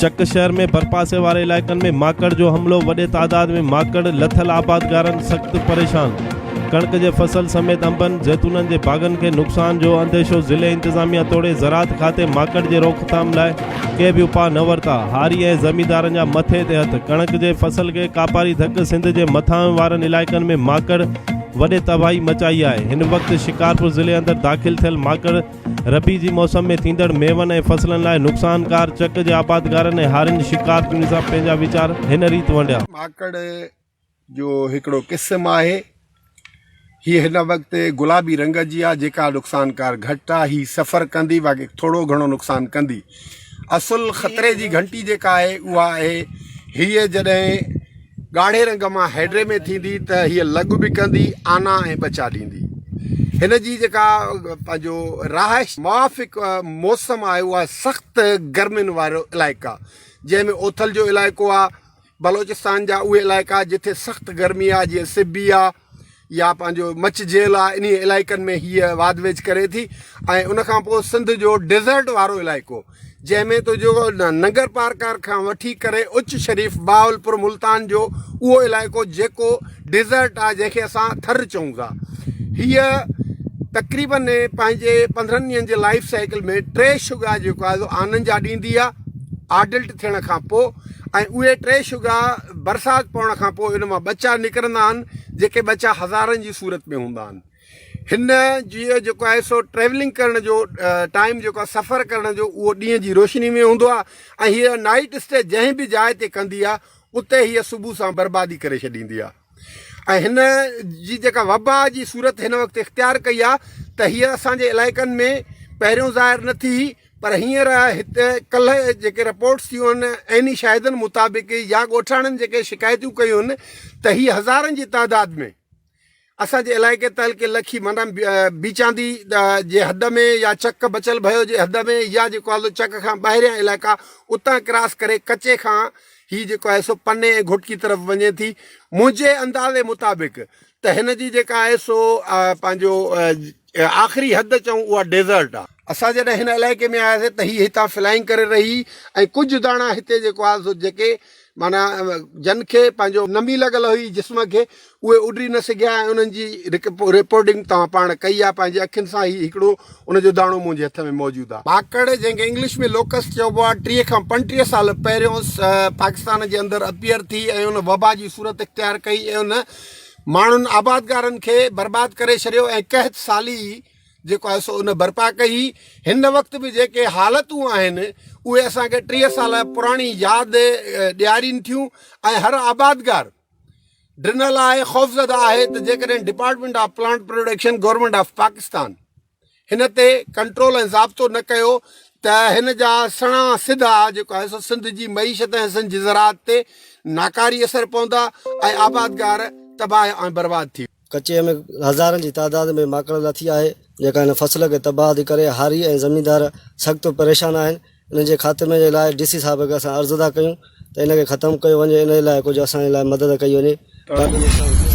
چڪ شهر ۾ ڀرپاسي واري علائقن ۾ ماڪڙ جو حملو وڏي تعداد ۾ ماڪڙ لٿل آبادگارن سخت پريشان ڪڻڪ جي فصل سميت انبن زيتونن جي باغن کي نقصان جو انديشو ضلعي انتظاميا توڙي زراعت کاتي ماڪڙ جي روڪٿام لاء ڪنهن به اپاء نه ورتا. هاري ۽ زميندارن جا مٿي تي هٿ. ڪڻڪ جي فصل کي ڪاپاري ڌڪ سنڌ جي مٿانهين وارن علائقن ۾ ماڪڙ وڏي تباهي مچائي آهي. هن وقت شڪارپور ضلعي اندر داخل ٿيل ماڪڙ ربيع جي موسم ۾ ٿيندڙ ميون ۽ فصلن لاء نقصانڪار چڪ جي آبادگارن ۽ هارين شڪارپورين سان پنهنجا ويچار هن ريت ونڊيا. ماڪڙ جو هڪڙو قسم آهي. هيء هن وقت گلابي رنگ جي آهي، جيڪا نقصانڪار گهٽ آهي. هيء سفر ڪندي باقي ٿورو گهڻو نقصان ڪندي. اصل خطري جي گهنٽي جيڪا آهي اها آهي هيء جڏهن ڳاڙهي رنگ مان هيڊري ۾ ٿيندي ته هيء لڳ به ڪندي آنا ۽ ٻچا ڏيندي. هن جي جيڪا پنهنجو رهائش موافق موسم آهي اهو آهي سخت گرمين وارو علائقا جنهن ۾ اوٿل جو علائقو آهي. بلوچستان جا اهي علائقا جتي سخت گرمي آهي جيئن سبي آهي يا پنهنجو مچ جيل آهي انهي علائقن ۾ هيء واڌ ويجهه ڪري ٿي ۽ ان کان پوء سنڌ جو ڊيزرٽ وارو علائقو جنهن ۾ تو جو ننگر پارڪار کان وٺي ڪري اچ شريف بهاولپور ملتان جو اهو علائقو جيڪو ڊيزرٽ آهي جنهن کي اسان ٿر چئون ٿا هيء تقريبن پنهنجي پندرهن ڏينهن جي لائف سائيڪل ۾ ٽي شگا جيڪو آهي سو آنن جا ڏيندي آهي آڊلٽ ٿيڻ کان پوء ۽ اهي ٽي شگا برسات پوڻ کان پوء ان مان ٻچا نڪرندا آهن جيڪي ٻچا هزارن جي صورت ۾ هوندا آهن هن جي جيڪو آهي سو ٽريولنگ ڪرڻ جو ٽائيم جيڪو آهي سفر ڪرڻ جو اهو ڏينهن جي روشني ۾ هوندو آهي ۽ هيء نائيٽ اسٽي جنهن به جاء تي ڪندي آهي اتي هيء صبح سان بربادي ڪري ڇڏيندي آهي ۽ هن جي جيڪا وبا جي صورت هن وقت اختيار ڪئي آهي ته هيء اسان جي علائقن ۾ پهريون ظاهر نه ٿي هئي پر هينئر هتي ڪلهه جيڪي رپورٽس ٿيون آهن عيني شاهدن مطابق يا ڳوٺاڻن جيڪي شڪايتون ڪيون آهن ته هيء هزارن جي تعداد ۾ اسان جي علائقي تعلقي لکي معنيٰ بيچاندي جي حد ۾ يا چڪ بچل ڀيو جي حد ۾ يا جيڪو آلو چڪ کان ٻاهريان علائقا اتان ڪراس ڪري ڪچي کان هي جيڪو آهي سو پني ۽ گهوٽڪي طرف وڃي ٿي منهنجي اندازي مطابق ته هن جي جيڪا آهي سو پنهنجو آخري حد چئون اها ڊيزرٽ آهي اسان جڏهن هن علائقي ۾ آياسي ته هي هتان فلائنگ ڪري رهي ۽ ڪجهه داڻا هتي جيڪو آهي سو جيڪي معنيٰ جن کي پنهنجو نمي لڳل هئي جسم کي اهي اڏري نه سگهيا ۽ انهن جي رپورٽنگ توهان پاڻ ڪئي آهي پنهنجي اکين سان هي هڪڙو ان جو داڻو منهنجي هٿ ۾ موجود آهي. ڀاڪڙ جنهن کي انگلش ۾ لوڪسٽ چئبو آهي ٽيهه کان پنجٽيهه سال پهريون پاڪستان جي اندر اپيئر ٿي ۽ ان وبا جي صورت اختيار ڪئي ۽ ان ماڻهن آبادگارن کي برباد ڪري ڇڏيو ۽ قحط سالي جيڪو آهي سو ان برپا ڪئي هئي هن وقت به جيڪي حالتون آهن اهي اسان کي ٽيهه سال پراڻي ياد ڏيارين ٿيون ۽ هر آبادگار ڊنل آء خوفزده آهي ته جيڪڏهن department of plant production government of Pakistan هن تي ڪنٽرول ۽ ضابطو نه ڪيو ته هن جا سڻا سڌا جيڪو آهي سو سنڌ جي معيشت ۽ سنڌ جي زراعت تي ناڪاري اثر پوندا ۽ آبادگار تباهه ۽ برباد ٿي ڪچي ۾ هزارن جي تعداد ۾ ماڪڙ لٿي آهي جيڪا هن فصل کي تباهه ٿي ڪري هاري ۽ زميندار سخت پريشان آهن ان جي خاتمي جي لاء ڊي سي صاحب کي اسان عرض ٿا ڪيون ته ان کي ختم ڪيو وڃي ان جي لاء ڪجهه اسان جي لاء مدد ڪئي وڃي تاڪه نقصان ٿئي.